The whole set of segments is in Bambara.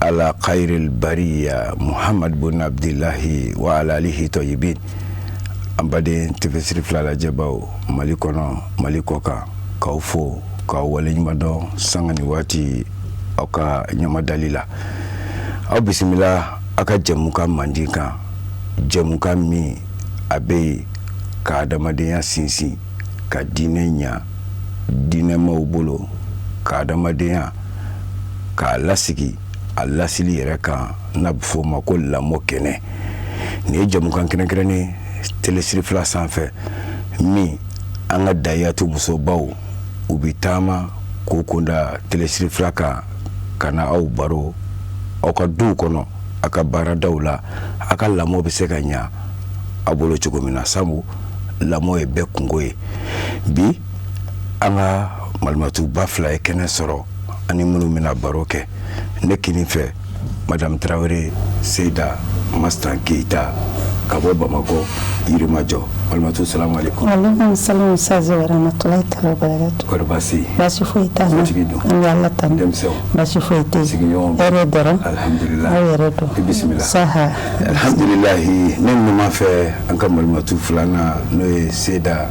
ala kayiril bariya muhamadu bun abudilayi wa ala alihi tayibin an baden tele serifila lajɛbaw mali kɔnɔ mali kɔkan k'aw fo k'aw waleɲumandɔn sanga ni waati aw ka ɲama dali la aw bisimila aw ka jɛmukan mandi kan jɛmukan min a bɛ yen ka adamadenya sinsin ka diinɛ ɲɛ diinɛmaw bolo ka adamadenya k'a lasigi a lasili yɛrɛ kan n'a bɛ f'o ma ko lamɔ kɛnɛ nin ye jɛmukan kɛrɛnkɛrɛnnen tele serifila sanfɛ min an ka dayatu musobaw u bɛ taama k'u kunda tele serifila kan ka na aw baro aw ka duw kɔnɔ a ka baaradaw la a ka lamɔ bɛ se ka ɲɛ aw bolo cogo min na sabu lamɔ ye bɛɛ kunko ye bi an ka malitumatiba fila ye kɛnɛ sɔrɔ ani minnu bɛna baro kɛ ne kelen fɛ mamu tarawele seda ma tan keyita ka bɔ bamakɔ yirimajɔ balimatu sa sa ne ɲuman fɛ an ka malitu filanan n'o ye seda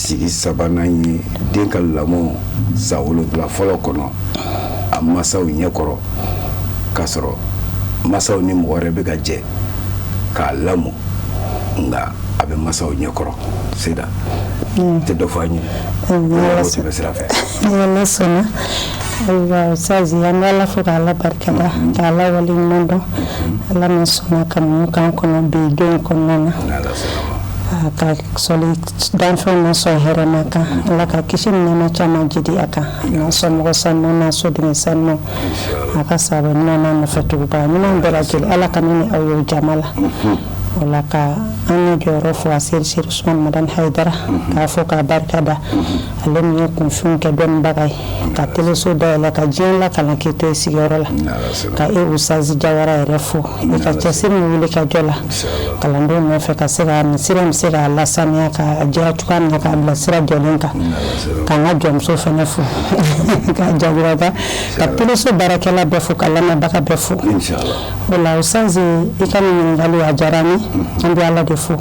sigi sabanan ye den ka lamɔ san wolonwula fɔlɔ kɔnɔ a masaw ɲɛkɔrɔ k'a sɔrɔ masaw ni mɔgɔ wɛrɛ bɛ ka jɛ k'a lamɔ nka a bɛ masaw ɲɛkɔrɔ seda hmm. i tɛ dɔ fɔ an ye tɛmɛ sira fɛ ayiwa usazi an bɛ ala fo ka ala barika da mm-hmm. ka ala waleɲumandɔn mm-hmm. ala min sɔnna ka mun kan kɔnɔ bi don kɔnɔna na ka sali danfɛnw na sɔn hɛrɛma kan ala ka kisi ni nɛɛma caman jidi a kan n'a somɔgɔ sanu n'a soden sanu a ka sahaba ɲuman n'a nɔfɛ tugubaa ɲuman bɛɛ lajɛlen ala ka ne ni aw ye jama la wala ka an ye jɔyɔrɔ fo aseyidi serifu usumani madani hayidara k'a fo k'a barika da ale min ye kunfɛnw kɛ dɔnnibaga ye ka teleso dayɛlɛ ka diɲɛ lakalan k'i to i sigiyɔrɔ la ka e usazi jawara yɛrɛ fo i ka cɛsiri ni wulikajɔ la kalandenw nɔfɛ ka se ka nin sira in se k'a lasaniya k'a jɛya cogoya min na k'a bila sira jɔlen kan k'an ka jɔnmuso fɛnɛ fo k'a jagiraba ka teleso baarakɛla bɛɛ fo ka lamɛnbaga bɛɛ fo o la Ustaz i ka nin ɲininkali a diyara n ye an bɛ Ala de fo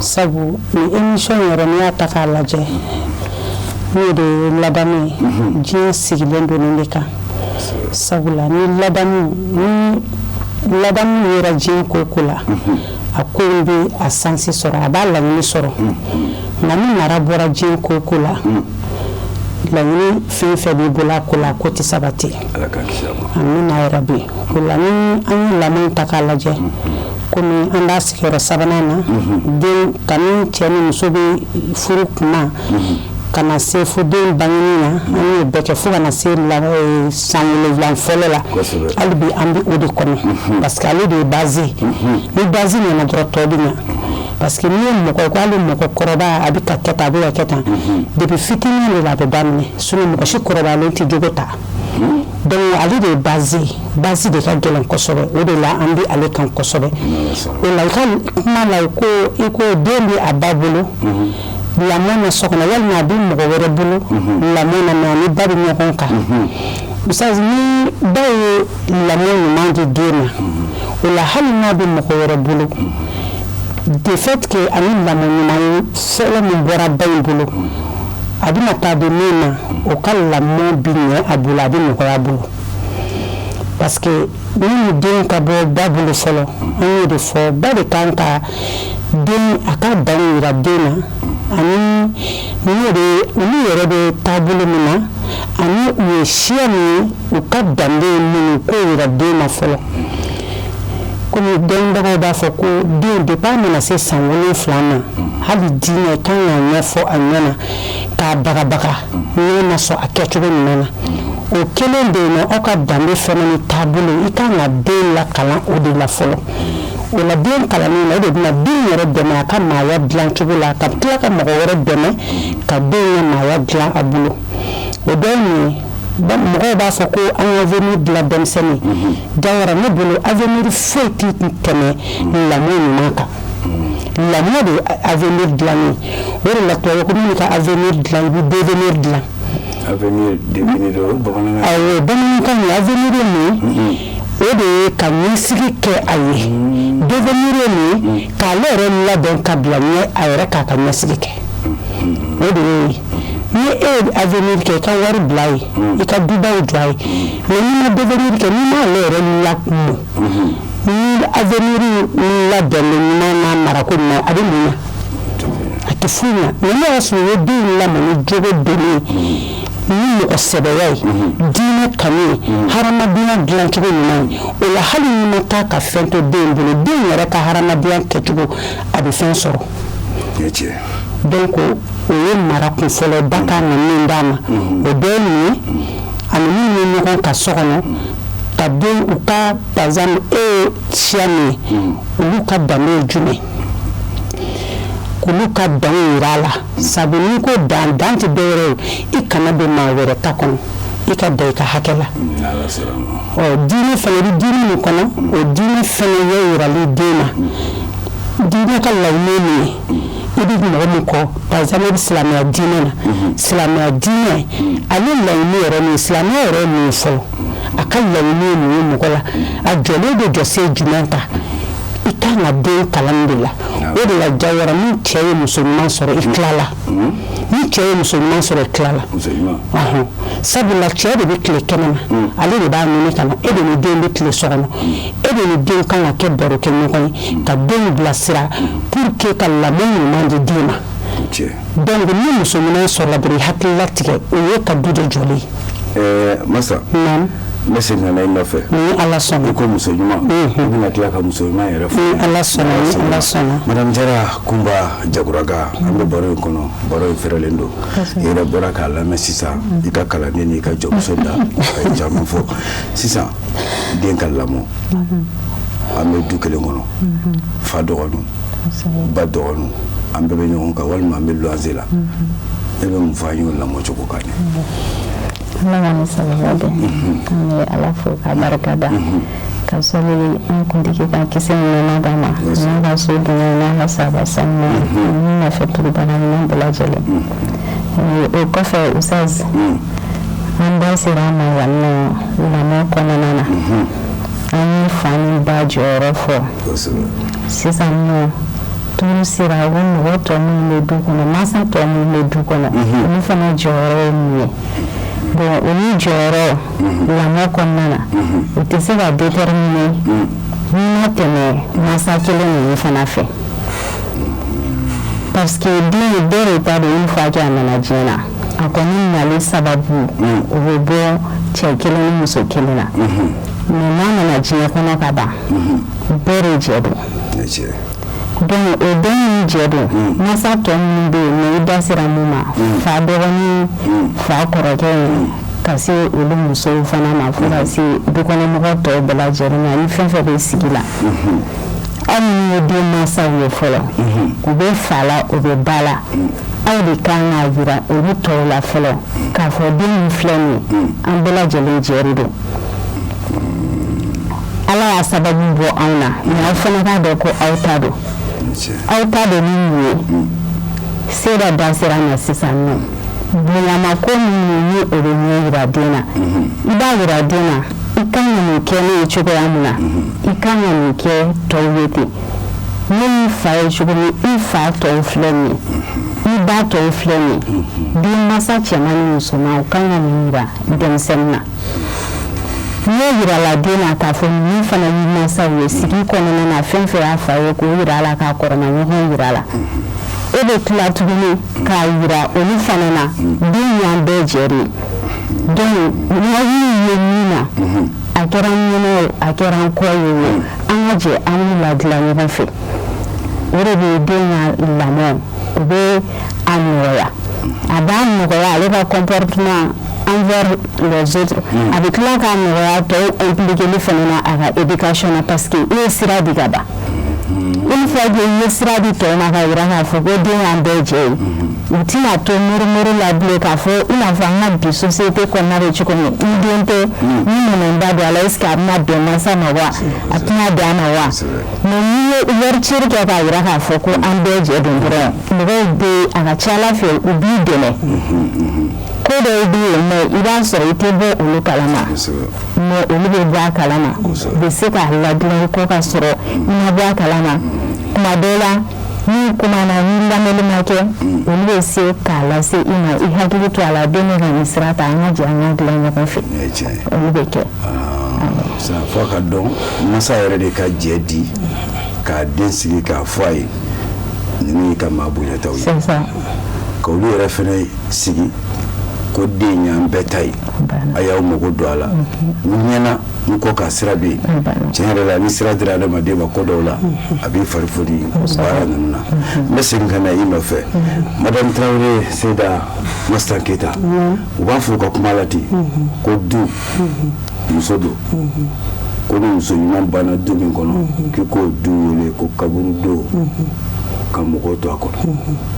sabu nin émission yɛrɛ n'i y'a ta k'a lajɛ n'o de ye ladamu ye diɲɛ sigilen don nin de kan sabula ni ladamu ni ladamu yera diɲɛ ko o ko la a ko bɛ a sansi sɔrɔ a b'a laɲini sɔrɔ nka ni mara bɔra diɲɛ ko o ko la laɲini fɛn fɛn b'i bolo a ko la a ko tɛ sabati amiina yarabi o la ni an ye lamɔ ta k'a lajɛ kɔmi an b'a sigiyɔrɔ sabanan na den kabini cɛ ni muso bɛ furu kuma ka na se fo den bangeni na an ye bɛɛ kɛ fo ka na se san wolonwula fɔlɔ la hali bi an bɛ o de kɔnɔ parce que ale de ye base ye ni base ɲana dɔrɔn tɔ bɛ ɲa parce que n'i ye mɔgɔ ko hali mɔgɔ kɔrɔba a b'a ka kɛta a b'a ka kɛta depuis fitinin de la a bɛ daminɛ sinon mɔgɔ si kɔrɔbalen tɛ jogo ta donc ale de ye base ye base de ka gɛlɛn kosɛbɛ o de la an bɛ ale kan kosɛbɛ o la i ka kuma la ko i ko den bɛ a ba bolo mhm. lamɔ na so kɔnɔ walima a bɛ mɔgɔ wɛrɛ bolo mhm. lamɔ na mais a ni ba bɛ ɲɔgɔn kan mhm. misali ni ba ye lamɔ ɲuman di den ma o la hali n'a bɛ mɔgɔ wɛrɛ bolo de fait que a ni lamɔ ɲuman ye sɛbɛn min bɔra ba in bolo a bɛna taa di min ma o ka lamɔ bɛ ɲɛ a bolo a bɛ nɔgɔya a bolo parce que yanni den ka bɔ ba bolo fɔlɔ an y'o de fɔ ba de kan ka den a ka dan yira den na ani n'o de olu yɛrɛ bɛ taabolo min na ani u ye siya min ye u ka danbe ye min ye k'o yira den na fɔlɔ komi dɔnnibagaw b'a fɔ ko den depuis a mana se san wolonwula ma hali diinɛ kan k'a ɲɛfɔ a ɲɛna k'a bagabaga n'a ma sɔn a kɛcogo ɲuman na o kelen de yen aw ka danbe fana ni taabolo i kan ka den lakalan o de la fɔlɔ o la den kalanni na o de bɛna den yɛrɛ dɛmɛ a ka maaya dilan cogo la ka tila ka mɔgɔ wɛrɛ dɛmɛ ka den ka maaya dilan a bolo o dɔ ye mun ye mɔgɔw b'a fɔ ko an ka avenir dilan denmisɛnnin jawara ne bolo avenir foyi tɛ tɛmɛ lamɔ ɲuman kan la de a dila o de la ka a dila i bɛ dila a bamanankan a min o de ye ka sigi kɛ a ye do min k'a ne yɛrɛ ladɔn ka bila ɲɛ a yɛrɛ k'a ka ɲɛ sigi kɛ o de ye ni e ye a kɛ i ka wari bila ye i ka duba ye dila ye mɛ kɛ n' yɛrɛ la kun ni avenir labɛn ɲuman n'a marako ɲuman a bɛ mun ɲa a tɛ foyi ɲa mais n'a y'a sɔrɔ i ye den lamɔ ni jogo donni ye ni mɔgɔsɛbɛya ye diinɛ kanu ye hadamadenya dilancogo ɲuman ye o la hali n'i ma taa ka fɛn to den bolo den yɛrɛ ka hadamadenya kɛcogo a bɛ fɛn sɔrɔ donc o ye mara kun fɔlɔ ba kan ka min d'a ma o bɛɛ ye mun ye ani min ye ɲɔgɔn ka so kɔnɔ ka den u ka par exemple e ye siya min ye hmm. olu ka danbe ye jumɛn k'olu ka dan yira a la sabu n'i ko dan dan tɛ dɔ wɛrɛ ye i kana don maa wɛrɛ ta kɔnɔ i ka dan i ka hakɛ la ɔ diinɛ fana i bɛ diinɛ min kɔnɔ hmm. o diinɛ fana ye yirali den na hmm. diinɛ ka laɲini ye min ye i bɛ mɔgɔ min kɔ par exemple i bɛ silamɛya diinɛ na silamɛya diinɛ ale laɲini yɛrɛ min silamɛya yɛrɛ ye mun ye fɔlɔ a ka laɲini ye mun ye mɔgɔ la a jɔlen bɛ jɔsen jumɛn kan i kan ka den kalan de la o de la jawara ni cɛ ye muso ɲuman sɔrɔ i tilala ni cɛ ye muso ɲuman sɔrɔ i tilala sabula cɛ de bɛ tile kɛnɛ na ale de b'a ɲini ka na e de ni den bɛ tile so kɔnɔ e de ni den kan ka kɛ baro kɛ ɲɔgɔn ye ka denw bilasira pour que ka lamɔ ɲuman di den ma donc ni muso ɲuman sɔrɔla dɔrɔn i hakili latigɛ o y'i ka du de jɔlen ye. Eh, masa. Naam. n bɛ segin ka na i nɔfɛ ni ala sɔnna i ko muso ɲuman i bɛna tila ka muso ɲuman yɛrɛ fɔ ni ala sɔnna ni ala sɔnna madame jara kunba jaguraga an bɛ baro in kɔnɔ baro in fɛrɛlen don i yɛrɛ bɔra k'a lamɛn sisan i ka kalanden n'i ka jɔmuso da a ye caman fɔ sisan den ka lamɔ an bɛ du kelen kɔnɔ fa dɔgɔnin ba dɔgɔnin an bɛɛ bɛ ɲɔgɔn kan walima an bɛ luwanse la e bɛ mun fɔ an y'o lamɔ cogo kan an bɛ ala fo ka barika da ka sababu an kuntigi ka kisi ni nɛɛma d'a ma n'a ka soden n'a ka sahaba sanu n'a nɔfɛ tugubaa ɲuman bɛɛ lajɛlen o kɔfɛ ustaz an da sera a ma yan nɔ lamɔ kɔnɔna na an ye fa ni ba jɔyɔrɔ fɔ sisan nɔ tour sera o mɔgɔ tɔ minnu bɛ du kɔnɔ mansa tɔ minnu bɛ du kɔnɔ olu fana jɔyɔrɔ ye mun ye bon olu jɔyɔrɔ lamɔ kɔnɔna na o tɛ se ka déterminer n'i ma tɛmɛ mansa kelen ninnu fana fɛ parce que den bɛɛ de ta don une fois que a nana diɲɛ na a kɔni nali sababu mm. o bɛ bɔ cɛ kelen ni muso kelen na mm-hmm. mais n'a nana diɲɛ kɔnɔ ka ban mm-hmm. bɛɛ de jɛ don donc o den nin jɛ don mm. masa tɔ minnu bɛ yen mais i da sera min ma mm. fa dɔgɔnin fa kɔrɔkɛ ye ka se olu musow fana ma fo ka se dukɔnɔmɔgɔ tɔw bɛɛ lajɛlen ma ani fɛn fɛn bɛ sigi la mm-hmm. aw minnu ye den mansaw ye fɔlɔ u bɛ fa la u bɛ ba la aw de kan k'a yira olu tɔw la fɔlɔ k'a fɔ den min filɛ nin ye an bɛɛ lajɛlen jɛ de don ala y'a sababu bɔ anw na mais aw fana k'a dɔn ko aw ta don aw ta don ni mun ye seyida da sera a ma sisan nɔ bonyama ko minnu ni o bɛ ɲɛ yira den na i b'a yira den na i kan ka nin kɛ ne ye cogoya min na i kan ka nin kɛ tɔw ye ten ne y'i fa ye cogo min i fa tɔw filɛ nin ye i ba tɔw filɛ nin ye den mansa cɛman ni musoman u kan ka nin yira denmisɛnnin na n'o yirala den na k'a fɔ ninnu fana y'i mansaw ye sigi kɔnɔna na fɛn fɛn y'a fa ye k'o yira a la k'a kɔrɔma ɲɔgɔn yira a la e bɛ tila tuguni k'a yira olu fana na den y'an bɛɛ jɛ de ye donc n'a y'u ye min na a kɛra n ɲɛna o a kɛra n kɔ ye o an ka jɛ an b'u ladilan ɲɔgɔn fɛ o de bɛ den ka lamɔ o bɛ a nɔgɔya a b'a nɔgɔya ale ka comportement envers les autres mm. a bɛ tila k'a nɔgɔya tɔw impliquer fana na a ka éducation na parce que i ye sira di ka ban mm-hmm. une fois que i ye sira di tɔw ma k'a yira k'a fɔ ko den y'an bɛɛ jɛ ye mm-hmm. u tɛna to murumuru la bilen k'a fɔ i n'a fɔ an ka bi société kɔnɔna bɛ cogo min i den tɛ ni minɛnba don a la est ce que a bɛna bɛn mansa ma wa a tɛna bɛn a ma wa mais n'i ye ouverture kɛ k'a yira k'a fɔ ko an bɛɛ jɛ don dɔrɔn mɔgɔw bɛ a ka ca ala fɛ u b'i dɛmɛ ko dɔw bɛ yen mais i b'a sɔrɔ i tɛ bɔ olu kalama mais olu bɛ bɔ a kalama u bɛ se k'a ladilan kɔ ka sɔrɔ i ma bɔ a kalama tuma dɔw la n'u kumana ni lamɛnni ma kɛ olu bɛ se k'a lase i ma i hakili to a la den bɛ ka nin sira ta an ka jɛ an ka dilan ɲɔgɔn fɛ olu bɛ kɛ fo ka den masa yɛrɛ de ka jɛ di k'a den sigi k'a fɔ a ye ninnu y'i ka maa bonyataw ye ka olu yɛrɛ fɛnɛ sigi ko den y'an bɛɛ ta ye a y'aw mago don a la ɲɛna n kɔ ka sira bɛ yen tiɲɛ yɛrɛ la ni sira dira adamaden ma ko dɔw la a b'i fari foni baara ninnu na n bɛ segin ka na i nɔfɛ madame traoré seyida mastan keyita u b'a fɔ u ka kuma la ten ko du muso don ko ni muso ɲuman banna du min kɔnɔ k'i k'o du wele ko kaburu don ka mɔgɔw to a kɔnɔ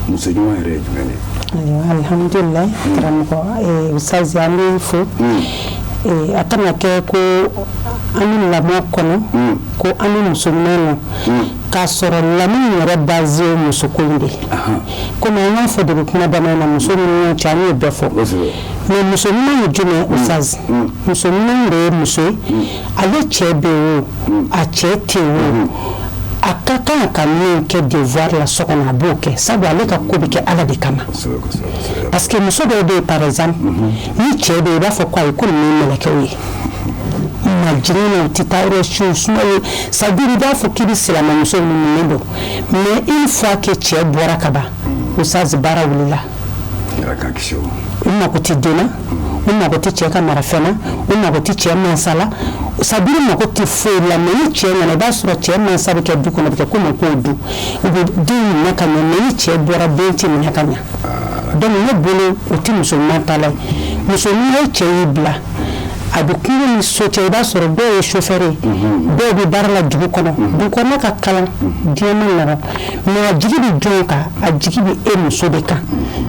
muso ɲuman yɛrɛ ye jumɛn de ye ayiwa alihamudulila karamɔgɔ eh, usutazi an b'i fo ee a kana kɛ ko an bɛ lamɔ kɔnɔ ko an bɛ muso ɲuman na k'a sɔrɔ lamɔ yɛrɛ base ye musoko de kɔmi an y'a fɔ depuis kuma daminɛ na muso ɲuman cɛ an y'o bɛɛ fɔ mais muso ɲuman ye jumɛn oustaz muso ɲuman de ye muso ye ale cɛ bɛ wo a cɛ tɛ wo a ka kan ka min kɛ devoir la so kɔnɔ a b'o kɛ sabu ale ka ko bɛ kɛ ala de kama parce que muso dɔw bɛ yen par exemple ni cɛ bɛ yen i b'a fɔ ko ayi ko nin ye mɛlɛkɛw ye majigin na u tɛ taa yɔrɔ si u suma ye c'est à dire i b'a fɔ k'i bɛ silamɛmuso minnu dɔn mais une fois que cɛ bɔra ka ban oustaz baara wulila u mago tɛ den na u mago tɛ cɛ ka marafɛn na u mago tɛ cɛ mansa la c'est à dire mago tɛ foyi la mais ni cɛ nana i b'a sɔrɔ cɛ mansa bɛ kɛ du kɔnɔ a bɛ kɛ komi k'o du u bɛ den minɛ ka ɲɛ mais ni cɛ bɔra den tɛ minɛ ka ɲɛ donc ne bolo o tɛ muso ɲuman ta la ye muso ɲuman ye cɛ y'i bila a bɛ kungo ni so cɛ i b'a sɔrɔ dɔw ye chauffeur ye dɔw bɛ baara la dugu kɔnɔ dugu kɔnɔ ka kalan diɲɛ man nɔgɔ mais a jigi bɛ jɔn kan a jigi bɛ e muso de kan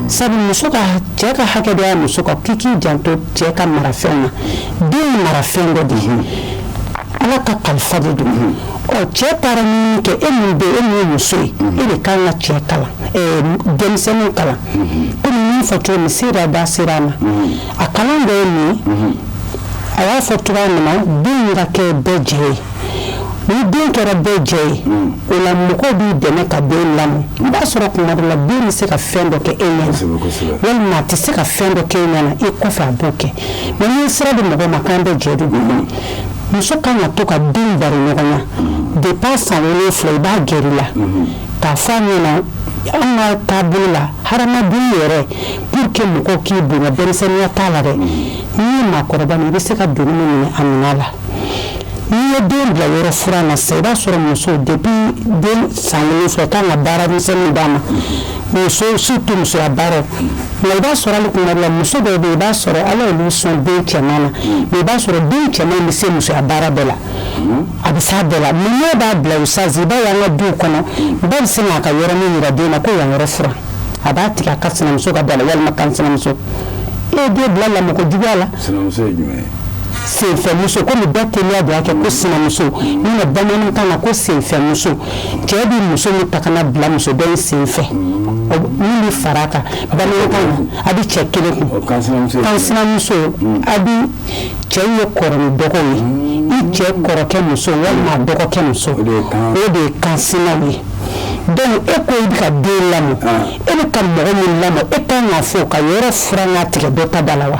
sabu muso ka cɛ ka hakɛ dɔ ye muso kan k'i k'i janto cɛ ka marafɛn na den ye marafɛn dɔ de ye ala ka kalifa de don ɔ cɛ taara min kɛ e min bɛ e min ye muso ye e de kan ka cɛ kalan denmisɛnninw kalan komi n y'a fɔ cogo min seyida da sera a ma a kalan dɔ ye min ye a y'a fɔ cogoya min na den ka kɛ bɛɛ jɛ ye ni den kɛra bɛɛ jɛ ye o la mɔgɔw b'i dɛmɛ ka den lamɔ i b'a sɔrɔ tuma dɔ la den bɛ se ka fɛn dɔ kɛ e ɲɛna walima a tɛ se ka fɛn dɔ kɛ e ɲɛna i kɔfɛ a b'o kɛ mais n'i sira di mɔgɔ ma k'an bɛɛ jɛ de muso kan ka to ka den baroɲɔgɔnya depuis san wolonfila i b'a gɛrɛ i la k'a fɔ a ɲɛna anw ka taabolo la hadamaden yɛrɛ pour que mɔgɔw k'i bonya denmisɛnninya t'a la dɛ n'i ye maakɔrɔba min i bɛ se ka doni min minɛ a minɛ a la n'i ye den bila yɔrɔ furan na sisan i b'a sɔrɔ muso depuis den san wolonfila kan ka baara misɛnninw d'a ma surtout musoya baara nka i b'a sɔrɔ hali tuma dɔ la muso dɔw bɛ yen i b'a sɔrɔ ala y'olu sɔn den cɛman na mais i b'a sɔrɔ den cɛman bɛ se musoya baara bɛɛ la a bɛ s'a bɛɛ la mais n'i b'a bila oustaz i b'a ye an ka du kɔnɔ ba bɛ se k'a ka yɔrɔ min jira den na ko yan yɔrɔ furan a b'a tigɛ a ka sinamuso ka da la walima kansinamuso e ye den bila lamɔko juguya la sinamuso ye jumɛn ye senfɛmuso komi bɛɛ teliya de y'a kɛ ko sinamuso bamanankan na ko senfɛmuso cɛ bɛ muso min ta ka n'a bila muso dɔ in sen fɛ min bɛ fara a kan bamanankan na a bɛ cɛ kelen kun kansinamuso a bɛ cɛ ye kɔrɔ ni dɔgɔ ye i cɛ kɔrɔkɛ muso walima a dɔgɔkɛ muso o de ye kansinaw ye donc e ko i bɛ ka den lamɔ e bɛ ka mɔgɔ min lamɔ e kan k'a fɔ ka yɔrɔ furan k'a tigɛ dɔ ta da la wa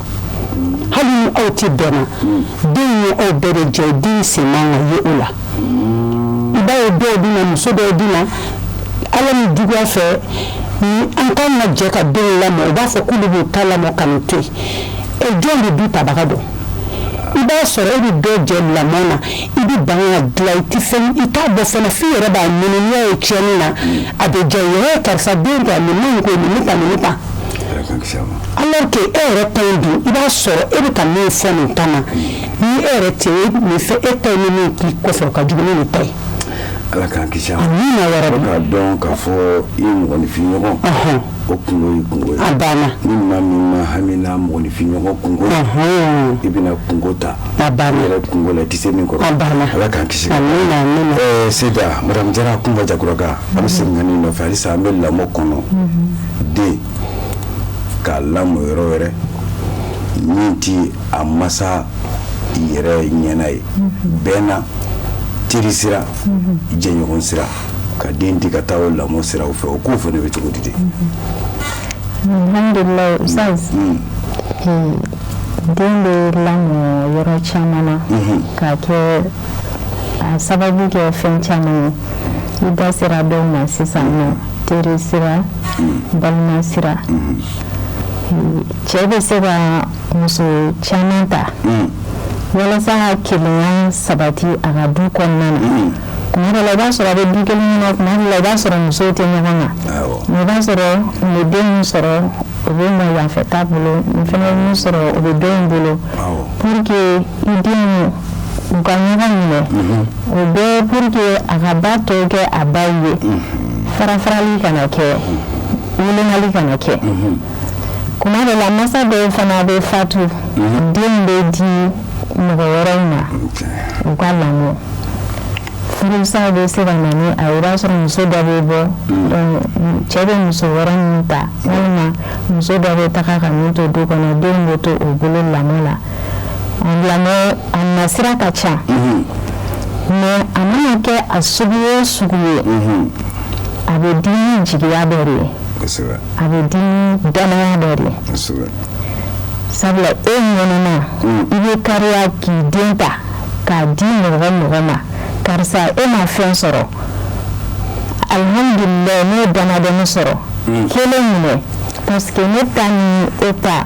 hali ni aw tɛ bɛn na den ye aw bɛɛ de jɛ den sen man ka ye o la i b'a ye dɔw bɛ na muso dɔw bɛ na a la nijuguya fɛ ni an ka na jɛ ka denw lamɔ u b'a fɔ k'olu b'u ta lamɔ ka nin to yen e jɔn bɛ du tabaga dɔn i b'a sɔrɔ e bɛ dɔ jɛ lamɔ na i bɛ ban ka dilan i tɛ fɛn i t'a bɔ fana f'i yɛrɛ b'a ɲini n'i y'a ye tiɲɛni na a bɛ diya i ye karisa den ta nin man ɲi ko nin ne ta nin ne ta alors que e yɛrɛ ta in dun i b'a sɔrɔ e bɛ ka min fɔ nin ta ma ni e yɛrɛ tɛ min fɛ e ta in ni min k'i kɔfɛ o ka jugu ni nin ta ye. ala k'an kisi a ma amina yɛrɛ de k'a dɔn k'a fɔ i mɔgɔninfinɲɔgɔn o kungo y'i kungo ye a banna ni maa min ma hami n'a mɔgɔninfinɲɔgɔn kungo i bɛna kungo ta a banna i yɛrɛ kungo la i tɛ se min kɔrɔ a banna ala k'an kisi amina amina ɛɛ seyida madamu jara kunba jaguraga an bɛ segin ka n'i nɔfɛ halisa an bɛ lamɔ kɔnɔ den k'a lamɔ yɔrɔ wɛrɛ min tɛ a masa yɛrɛ ɲɛna ye bɛɛ na teri sira jɛɲɔgɔn sira ka den di ka taa o lamɔ sira o fɛ o ko fana bɛ cogo di de alhamdulilayi ustaz mm. hmm. den bɛ lamɔ yɔrɔ caman na mm-hmm. k'a kɛ a sababu kɛ fɛn caman ye i da sera dɔw ma sisan nɔ teri sira balima sira cɛ bɛ se ka muso caman ta walasa ka kelenya sabati a ka du kɔnɔna na kuma dɔ la i b'a sɔrɔ a bɛ du kelen na kuma dɔ la i b'a sɔrɔ musow tɛ ɲɔgɔn na mais i b'a sɔrɔ nin bɛ den min sɔrɔ o bɛ mɔ yanfɛ ta bolo nin fɛnɛ bɛ min sɔrɔ o bɛ dɔ in bolo pour que i denw u ka ɲɔgɔn minɛ o bɛɛ pour que a ka ba tɔ kɛ a ba ye farafarali kana kɛ wolomali kana kɛ kuma dɔ la masa dɔw fana bɛ fatu den bɛ di mɔgɔ wɛrɛw ma u k'a lamɔ furusa bɛ se ka na ni a ye i b'a sɔrɔ muso dɔ bɛ bɔ cɛ bɛ muso wɛrɛ min ta walima muso dɔ bɛ taga ka min to du kɔnɔ denw bɛ to o bolo lamɔ la a nasira ka ca mais a mana kɛ a sugu o sugu ye a bɛ di ni jigiya dɔ de ye a bɛ di ni danaya dɔ de ye sabula e ɲɛnama i bɛ kariya k'i den ta k'a di mɔgɔ mɔgɔ ma karisa e ma fɛn sɔrɔ alhamdulilayi ne ye damadɔnin sɔrɔ kelen minɛ parce que ne ta ni e ta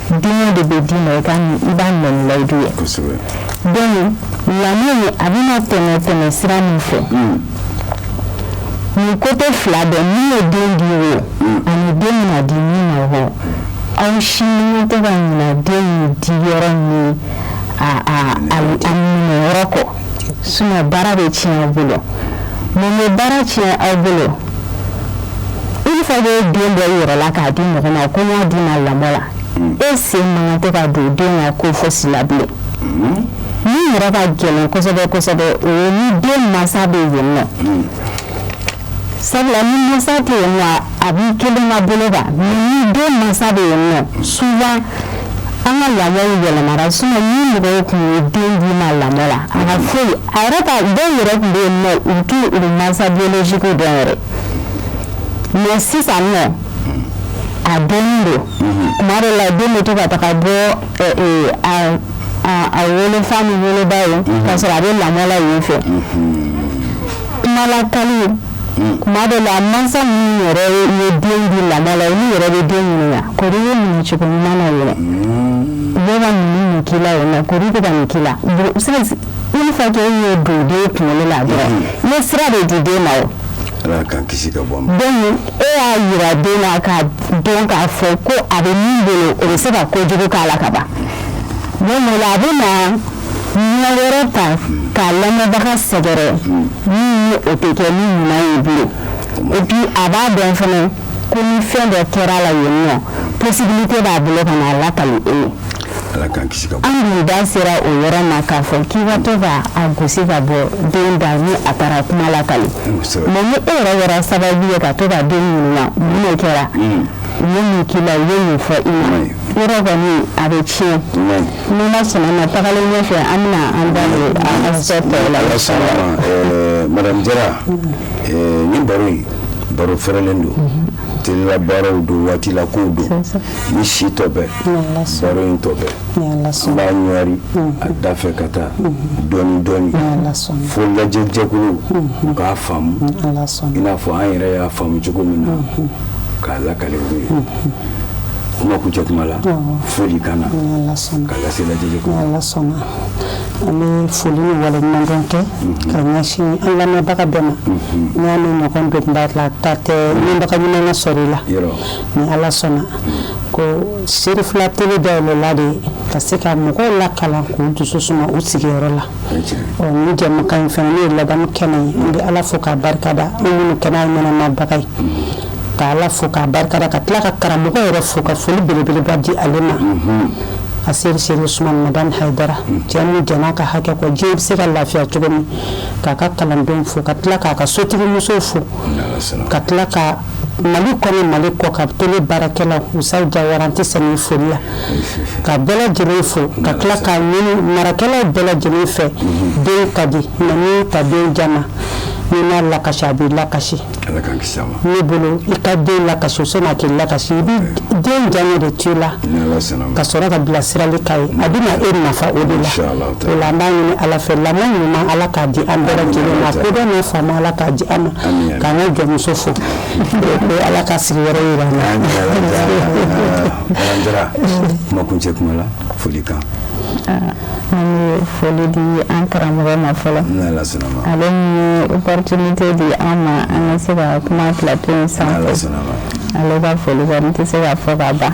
den de bɛ d'i ma i ka i b'a minɛ ni layidu ye kosɛbɛ donc lamɔ a bɛna tɛmɛ tɛmɛ sira min fɛ hmm. nin côté fila bɛɛ min ye den di o hmm. ani den bɛna di min ma o aw si man kan tɛ ka ɲinɛ den di yɔrɔ ni a a a minɛ yɔrɔ kɔ sinon baara bɛ tiɲɛ aw bolo mun bɛ baara tiɲɛ aw bolo une fois que den bɔ i yɛrɛ la k'a di mɔgɔ ma ko n y'a d'i ma lamɔ la mm. e sen man kan tɛ ka don den ka ko fosi la bilen mm. min yɛrɛ ka gɛlɛn kosɛbɛ kosɛbɛ o ye ni den mansa bɛ yen nɔ mm. Sabula ni mansa tɛ yen nɔ a b'i kelen ka bolo kan mais ni den mansa bɛ yen nɔ souvent an ka lamɔw yɛlɛmara sinon ni mɔgɔw tun ye den d'i ma lamɔ la a ka foyi a yɛrɛ ka dɔw yɛrɛ tun bɛ yen nɔ u t'u u mansa biologique dɔn yɛrɛ mais sisan nɔ a dɔnnen don tuma dɔw la den bɛ to ka taga bɔ eh, eh, a a a wolofa ni woloba ye k'a sɔrɔ a bɛ lamɔ la yen fɛ. kumalakali tuma dɔ la mansa minnu yɛrɛ ye den di lamɔ la olu yɛrɛ bɛ den ɲininka kori ye nin cogo ɲuman na yɛrɛ u bɛ ka nin nin k'i la yen nɔ kori u bɛ ka nin k'i la une fois que e y'o don den kunkolo la dɔrɔn i ye sira de di den ma o ala k'an kisi ka bɔ a ma donc e y'a yira den na k'a dɔn k'a fɔ ko a bɛ min bolo o bɛ se ka kojugu k'a la ka ban donc o la a bɛ na ɲɛ wɛrɛ ta k'a lamɔbaga sɛgɛrɛ min ni o tɛ kɛ ni ɲuman ye bilen et puis a b'a dɔn fana ko ni fɛn dɔ kɛra a la yen nɔ possibilité b'a bolo ka n'a lakali e ye ala k'an kisi ka bɔ an dun da sera o yɔrɔ ma k'a fɔ k'i ka to ka a gosi ka bɔ den da ni a taara kuma lakali kosɛbɛ. mais ni e yɛrɛ kɛra sababu ye ka to ka den ɲininka mun de kɛra u ye mun k'i la u ye mun fɔ i ma Oui. yɔrɔ kɔni a bɛ tiɲɛ ni ma sɔnna a ma tagalen ɲɛfɛ an bɛna an da don a aspect tɔw la ala sɔnna a ma ɛɛ madame jara ɛɛ nin baro in baro fɛrɛlen don tele la baaraw don waati la kow don ni si tɔ bɛ baro in tɔ bɛ an b'a ɲɔri a da fɛ ka taa dɔɔni dɔɔni fo lajɛjɛkuluw u k'a faamu i n'a fɔ an yɛrɛ y'a faamu cogo min na k'a lakale u ye kuma kuncɛ kuma la foli kan na k'a lase lajɛjɛkulu ala sɔnna an bɛ foli ni waleɲumandɔn kɛ ka ɲɛsin an lamɛnbaga bɛɛ ma n'a ni ɲɔgɔn donba la ta tɛ ɲɛbaga ɲuman ka sɔrɔ i la ni ala sɔnna ko serifila tele dayɛlɛla de ka se ka mɔgɔw lakalan k'u dusu suma u sigiyɔrɔ la Ni jɛmukan in fana ne ye ladamu kɛnɛ ye n bɛ ala fo k'a barika da minnu kɛnɛ ɲɛnamabaga ye ka ala fo k'a barika da ka tila ka karamɔgɔ yɛrɛ fo ka foli belebeleba di ale ma aseyidi serifu usumani madani hayidara cɛ min jɛnna a ka hakɛ kɔ diɲɛ bɛ se ka lafiya cogo min k'a ka kalandenw fo ka tila k'a ka sotigimuso fo ka tila ka Mali kɔnɔ mali kɔ ka tele baarakɛlaw musa jawara an tɛ sɛgɛn foli la ka bɛɛ lajɛlen fo ka tila k'a ɲini marakɛlaw bɛɛ lajɛlen fɛ den ka di mais n'i ta den diyaɲɛ n'i m'a lakasi a b'i lakasi ne bolo i ka den lakasi sanni a k'i lakasi i bɛ den diyaɲɛ de to i la ka sɔrɔ ka bilasirali k'a ye a bɛna e nafa o de la an b'a ɲini ala fɛ lamɔ ɲuman ala k'a di an bɛɛ lajɛlen ma kodɔn n'a faamu ala k'a di an ma k'an ka jɔnmuso fo ko ala ka sigi wɛrɛ yira an na jara kuma kuncɛ kuma la foli kan an bɛ foli di an karamɔgɔ ma fɔlɔ ale ye opportunité di an ma an ka se ka kuma plateau in sanfɛ ale ka foli kɔni tɛ se ka fɔ ka ban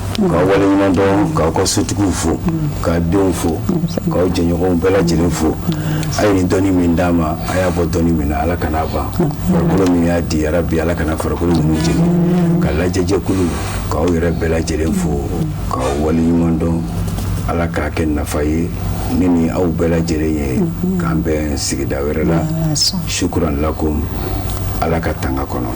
ka wale ɲuman dɔn k'aw ka sotigiw fo k'a denw fo k'aw jɛɲɔgɔnw bɛɛ lajɛlen fo a ye nin dɔnni min d'an ma a y'a bɔ dɔnni min na ala kan'a ban farikolo min y'a di yarabi ala kana farikolo ninnu jeni ka lajɛjɛkulu k'aw yɛrɛ bɛɛ lajɛlen fo k'aw wale ɲuman dɔn ala k'a kɛ nafa ye ne ni aw bɛɛ lajɛlen ye k'an bɛn sigida wɛrɛ la sukuran lakum ala ka tanga kɔnɔ